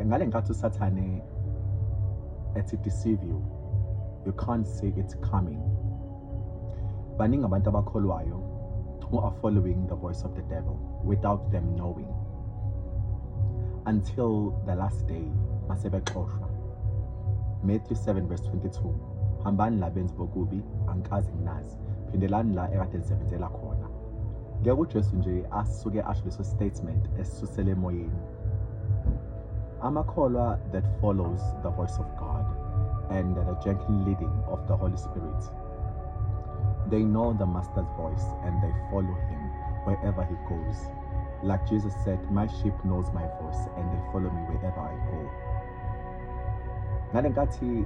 ngale nkathi usathane ethi deceive you you can't see it coming baningi abantu abakholwayo who are following the voice of the devil without them knowing until the last day masebexoshwa Matthew 7 verse 22 hambani labenzi bokubi angikaze nginazi Christ phindelani la ekade nisebenzela khona ngeke uJesu nje asuke asho leso statement esisusele emoyeni amakholwa that follows the voice of God and the gentle leading of the Holy Spirit they know the master's voice and they follow him wherever he goes like Jesus said my sheep knows my voice and they follow me wherever I go ngalenkathi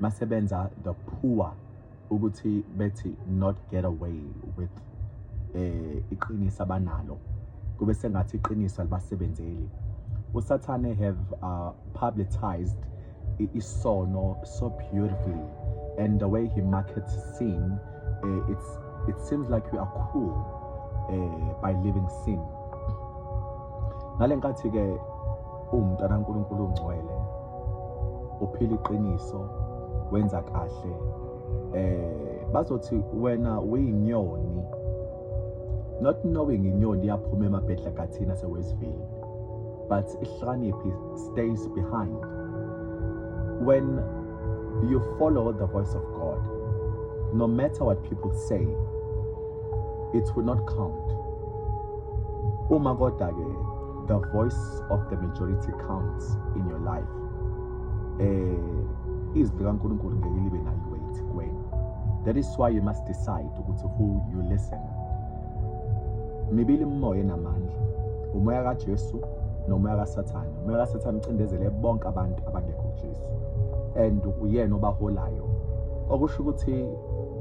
masebenza the poor ukuthi bethi not get away with eh iqiniso abanalo kube sengathi iqiniso alibasebenzeli usathane have uh, publicized isono so beautifully and the way he markets sin uh, it's it seems like we are cool uh, by living sin ngalenkathi ke umuntu anankulunkulu ungcwele uphila iqiniso wenza kahle eh bazothi wena uyinyoni not knowing inyoni yaphuma emabhedla kathina sewesivile but ihlakaniphi stays behind when you follow the voice of god no matter what people say it will not count uma kodwa-ke the voice of the majority counts in your life eh izwi likaNkulunkulu ngeke libe nayo weight kuwena that is why you must decide ukuthi who you listen mibili imimoya enamandla umoya kaJesu nomoya kaSathane umoya kaSathane ucindezele bonke abantu abangekho kuJesu and uyena obaholayo okusho ukuthi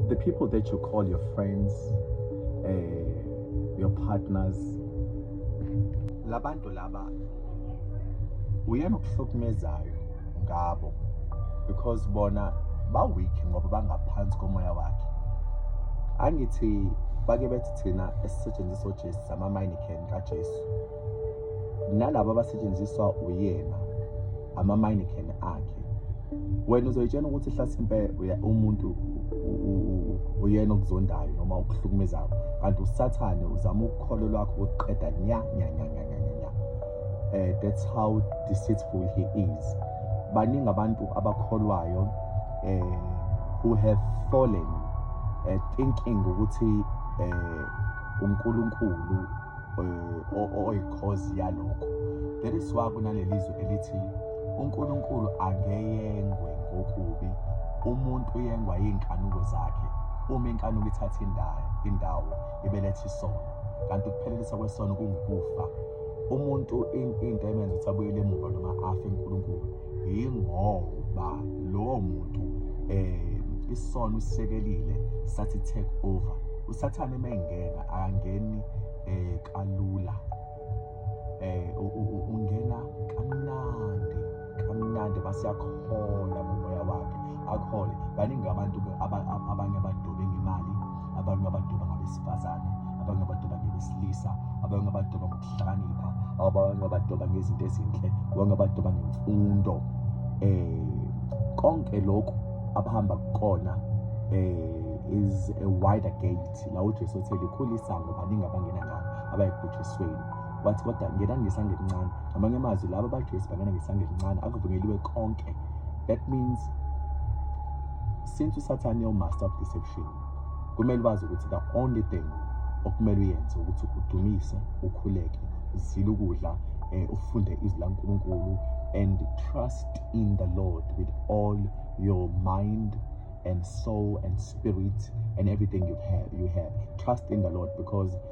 the people that you call your friends eh your partners labantu laba uyena okuhlukumezayo ngabo because bona ba-weak ngoba bangaphansi komoya wakhe angithi bake bethi thina esisetshenziswa ujesu sama-minican kajesu nalabo abasetshenziswa uyena amaminecane akhe wena uzoyitshena ukuthi hlasimpe umuntu uyena okuzondayo noma okuhlukumezayo kanti usathane uzama ukholo lwakho ukuqeda nya nya nya nya nya nya eh that's how deceitful he is baningi abantu abakholwayo eh who have fallen eh, thinking ukuthi eh uNkulunkulu eh, oyikhozi yalokho that is why kunalelizwe elithi uNkulunkulu angeyengwe ngokubi umuntu uyengwa yinkanuko zakhe uma inkanuko ithatha indawo indawo ibeletha isono kanti ukuphelelisa kwesono kungukufa umuntu into emenza ukuthi abuyele emuva noma afe uNkulunkulu yingoba lowo muntu um isono usisekelile sathi take over usathane uma engena akangeni um kalula um ungena kamnandi kamnandi basiyakhola ngomoya wakhe akhole baningi abantu abanye abadobe ngemali abanye abadoba ngabesifazane abanye abadoba ngebesilisa abanye abadoba ukuhlakanipha awabanye abadoba ngezinto ezinhle wonke abadoba ngemfundo eh konke lokhu abahamba kukona eh is a wider gate la uJesu othe likhulu isango baningi abangena ngalo abayekubhujisweni wathi kodwa ngenani ngesandla elincane amanye amazwi laba abaJesu bangena ngesandla elincane akuvunyeliwe konke that means since usathane umaster of deception kumele bazi ukuthi the only thing okumele uyenze ukuthi udumise ukhuleke uzile ukudla um ufunde izwi lankulunkulu and trust in the lord with all your mind and soul and spirit and everything you have, you have. trust in the lord because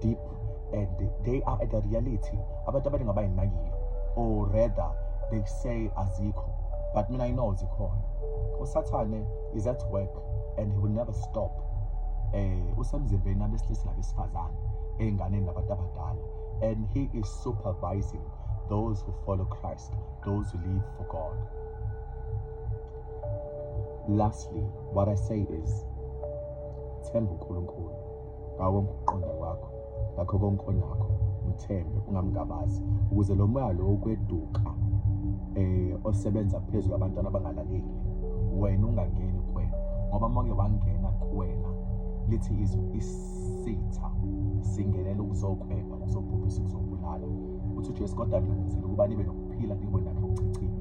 deep and they are at the reality abantu abaningi abayinakile or rather they say azikho but mina i know zikhona usathane is at work and he will never stop eh usemzimbeni abesilisa nabesifazane ey'nganeni nabantu abadala and he is supervising those who follow christ those who live for god lastly what i say is themba unkulunkulu ngawo konke ukuqonda kwakho ngakho konke onakho mthembe ungamgabazi ukuze lo moya lo ukweduka eh osebenza phezulu abantwana abangalaleli wena ungangeni kwe ngoba manje wangena kuwena lithi izwi isitha singenela ukuzokwena uzobhubhisa kuzobulala uthi uJesu kodwa ngenzile ukuba nibe nokuphila nibe nakho ukuchichima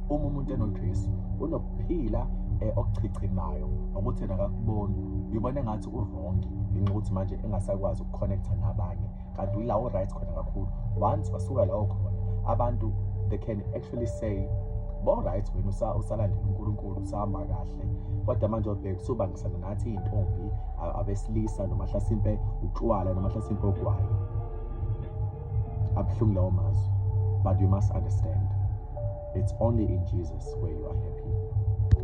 uma umuntu enoJesu unokuphila eh, okuchichimayo ngokuthi nakakuboni uyibona ngathi urongi ngenxa ukuthi manje engasakwazi ukuconnecta nabanye kanti uyila uright khona kakhulu once wasuka lawo khona abantu they can actually say bo-right wena usalandela unkulunkulu usahamba kahle kodwa manje obheka usubangisana ngathi iy'ntombi abesilisa noma hlasimpe utshwala noma hlasimpe ogwayo abuhlungu lawo mazwi but you must understand it's only in jesus where you are happy